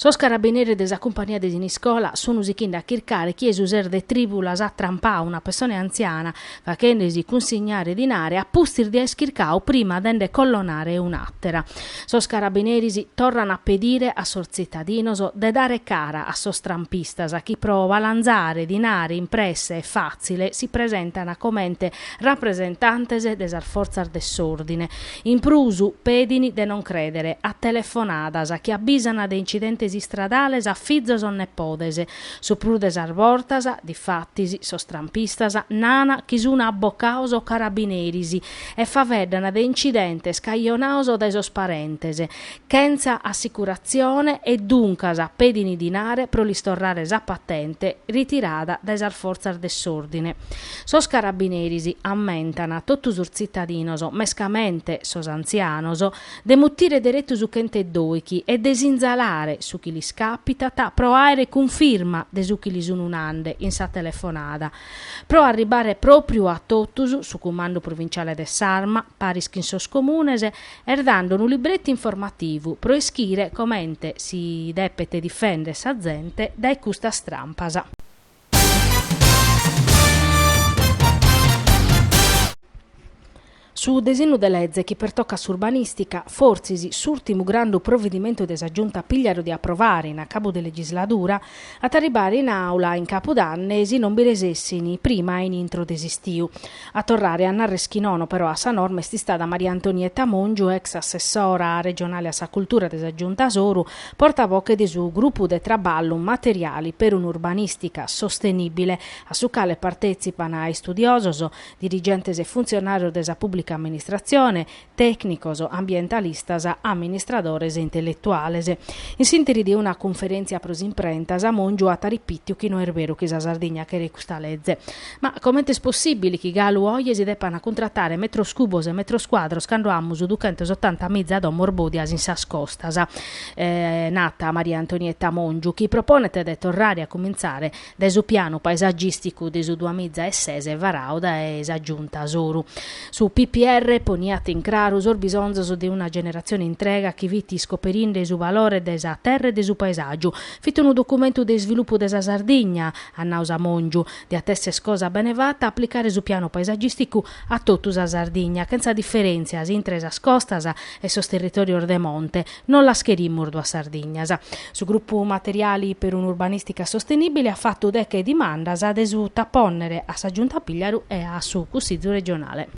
Sos carabineris de sa cumpania de Siniscola sun sichende a chircare chie su ses de Tribulas at trampadu una pessone antziana, faghende-si cunsignare dinare a pustis de as chircadu prima de nde collonare un'àtera. Sos carabineris torran a pedire a sos tzitadinos de dare cara a sos trampistas chi pro balanzare dinare in presse e fàtzile si presentan comente rapresentantes de sas fortzas de s'òrdine In prus, pedin de non crèdere a telefonadas chi abisan de incidentes istradales a fizos o nepodes. Su prus de sas bortas, difatis, sos trampistas nana chi sun abbocados o carabineris e faeddan de incidentes cajonados dae sos parentes, chentza assicuratzione e duncas pedini dinare pro lis torrare sa patente ritirada dae sas fortzas de s'òrdine. Sos carabineris ammentan a totu sos tzitadinos, mescamente sos antzianos, de mutire deretu su chent'e doighi e de sinzalare su chi lis càpitat pro àere cunfirma de su chi lis sunu nande in sa telefonada. Pro arribare pròpriu a totus, su cumandu provinciale de s'Arma, paris chin sos comunes, Est dando unu libretu informativu pro ischire comente si depet difèndere sa zente dae custas trampas. Su desinnu de leze chi pertocat s'urbanìstica, fortzis s'ùrtimu grandu provedimentu de sa Giunta Pigliaru de aprovare in acabu de legisladura, at a arribare in àula in capudanne si non bi resessint prima a in intro de s'istiu. A torrare a narrer chi nono però a sa norma est istada Maria Antonietta Mongiu, ex assessora regionale a sa cultura de sa Giunta Soru, portavoce de su Grupu de traballu Materiali per un'urbanistica sostenibile, a su cale partezipan istudiosos, dirigentes e funzionarios de sa pubblica amministrazione, tècnicos, ambientalistas, amministradores e intelletuales. In s'ìnteri de una cunferèntzia pro s'imprenta, sa Mongiu at aripìtiu chi no est beru chi sa Sardigna cheret custa leze. Ma comente est possìbili chi galu oje si depant cuntratare metros cubos e metros cuadros cando amus duchentos otanta miza domos bòdias in sas costas? at nau Maria Antonietta Mongiu, chi proponet de torrare a cumintzare dae su pianu paesagìsticu de su duamiza e ses varadu dae sa Giunta Soru. Su PPR poniat in craru sos bisonzos de una generatzione intrega chi fit iscoperinde su valore de sa terra e de su paesàgiu. Fit unu documentu de isvilupu de sa Sardigna, at nau sa Mongiu. Diat esser cosa bene fata aplicare su pianu paesagìsticu a totu sa Sardigna, chentza diferèntzias intre sas costas e sos territòrios de monte, Non las cherimus duas Sardignas. Su Grupu Materiali per un'Urbanistica Sostenibile at fatu deche dimandas de suta pònnere a sa Giunta Pigliaru e a su Cussizu Regionale.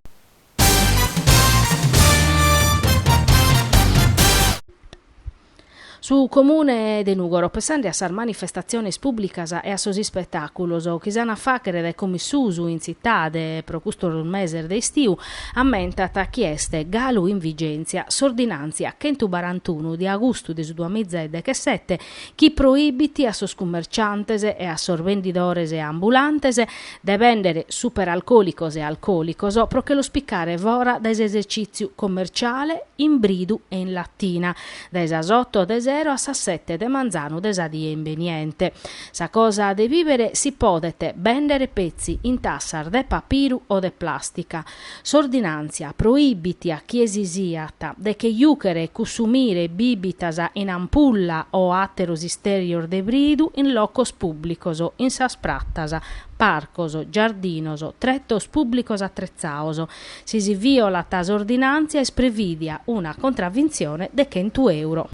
Su Comune de Nùgoro pensende a sas manifestatziones pùblicas e a sos ispetàculos chi s'ant a fàghere dae como in susu in tzitade pro custos meses de istiu, ammentat chi est galu in vigèntzia s'ordinàntzia chentu barantunu de agustu de su duas miza e dechesete chi proibit a sos cummerciantes e a sos vendidores ambulantes de bèndere superalcòlicos e alcòlicos pro che los picare fora dae s'esercìtziu commerciale in bridu e in latina dae sas oto de sero a sas sete de manzanu de sa die imbeniente. Sa cosa de bìvere si podet bèndere petzi in tassas de papiru o de plàstica. S'ordinàntzia proibit a chie si siat de che jùchere e cussumire bìbitas in ampulla o àteros istèrios de bridu in locos pùblicos, in sas pratas, parcos, giardinos, tretos pùblicos atretzados. Si si vìolat s'ordinàntzia est prevìdia una contravintzione de chentu euro.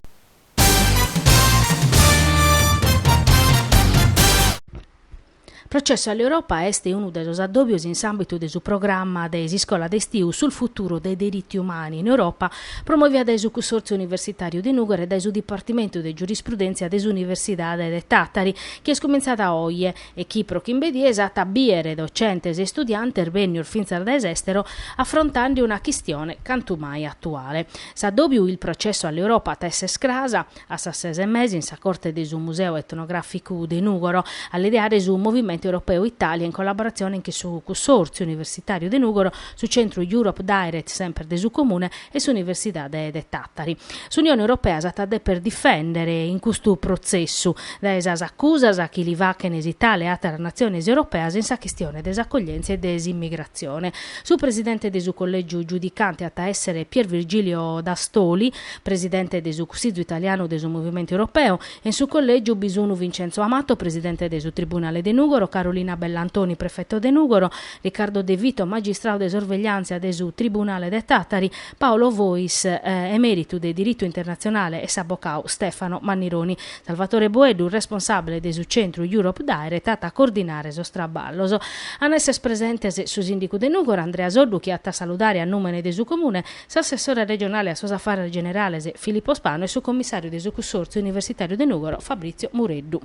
Processo all'Europa est unu de sos addòbios in s'àmbitu de su programma de s'iscola de istiu sul futuro dei diritti umani in Europa, promòvia dae su Cussòrtziu Universitàriu de Nùgoro e dae su Dipartimentu de Giurisprudentzia de s'Universidade de Tàtari, chi est cumintzada oje. e chi pro chimbe dies at a bìere docentes e istudiantes bènnios fintzas dae s'èstero afrontende una chistione cantu mai atuale. S'addòbiu il processo all'Europa at a èssere cras a sas ses e mesa in sa corte de su Museu Etnogràficu de Nùgoro a l'ideare su Movimento Europeo Italia in collaboratzione cun su Cussòrtziu Universitàriu de Nùgoro, su Centru Europe Direct semper de su Comune, e s'Universidade de Tàtari. S'Unione Europea s'at a deper difèndere in custu protzessu dae sas acusas chi li fachent s'Itàlia e àteras natziones europeas in sa chistione de s'acoglièntzia e de s'immigratzione. Su presidente de su collègiu giudicante at a èssere Pier Virgilio Dastoli, presidente de su Cussizu italianu de su Movimentu Europeu, e in su collègiu bi sunt Vincenzo Amato, presidente de su Tribunale de Nùgoro, Carolina Bellantoni, prefeto de Nùgoro, Riccardo De Vito, magistrau de sorvegliàntzia de su Tribunale de Tàtari, Paolo Fois, emèritu de diritu internatzionale e s'abocau Stefano Mannironi. Salvatore Boeddu, responsàbile de su centru Europe Direct, at a cordinare sos traballos. An a èssere presentes su sìndicu de Nùgoro, Andrea Soddu, chi at a saludare a nùmene de su Comune, s'assessore regionale a sos afares generales Filippo Spanu e su commissàriu de su Cussòrtziu universitàriu de Nùgoro Fabrizio Mureddu.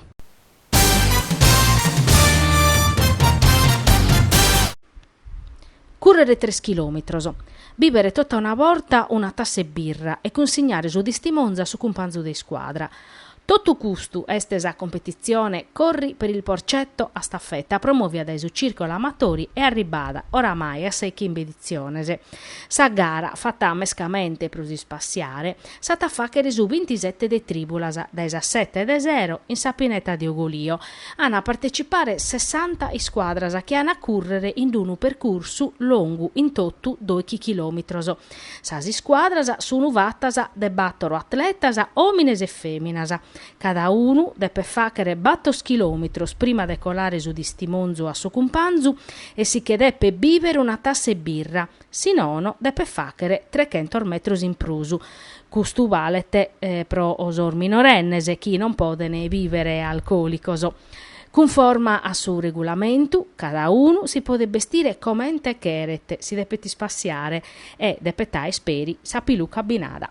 Currere tres chilòmetros, bìbere tota una borta una tassa 'e birra e cunsignare su tistimonzu a su cumpanzu de iscuadra. Totu custu est sa competitzione Corri per il Porcetto a staffetta promòvia dae su Circolo Amatori e arribbada oramai a sa 'e chimbe editziones. Sa gara, fata mescamente pro si spassiare, s'at a fàghere su bintisete de trìbulas, dae sas sete de sero, in sa pineta de Ogolio. An a partecipare sessanta iscuadras chi an a cùrrere in unu percursu longu in totu doighi chilòmetros. Sas iscuadras sun fatas de bàtoro atletas, òmines e fèminas. Cada unu depet fàghere bàtor chilòmetros prima de colare su tistimonzu a su cumpanzu e si che depet bìvere una tassa 'e birra. si nono depet fàghere trechentos metros in prus, custu balet pro sos minorennes chi non poden bìvere alcòlicos. Cunforma a su regulamentu, cada unu si podet bestire comente cheret, si depet ispassiare e depet àer peri sa piluca abbinada.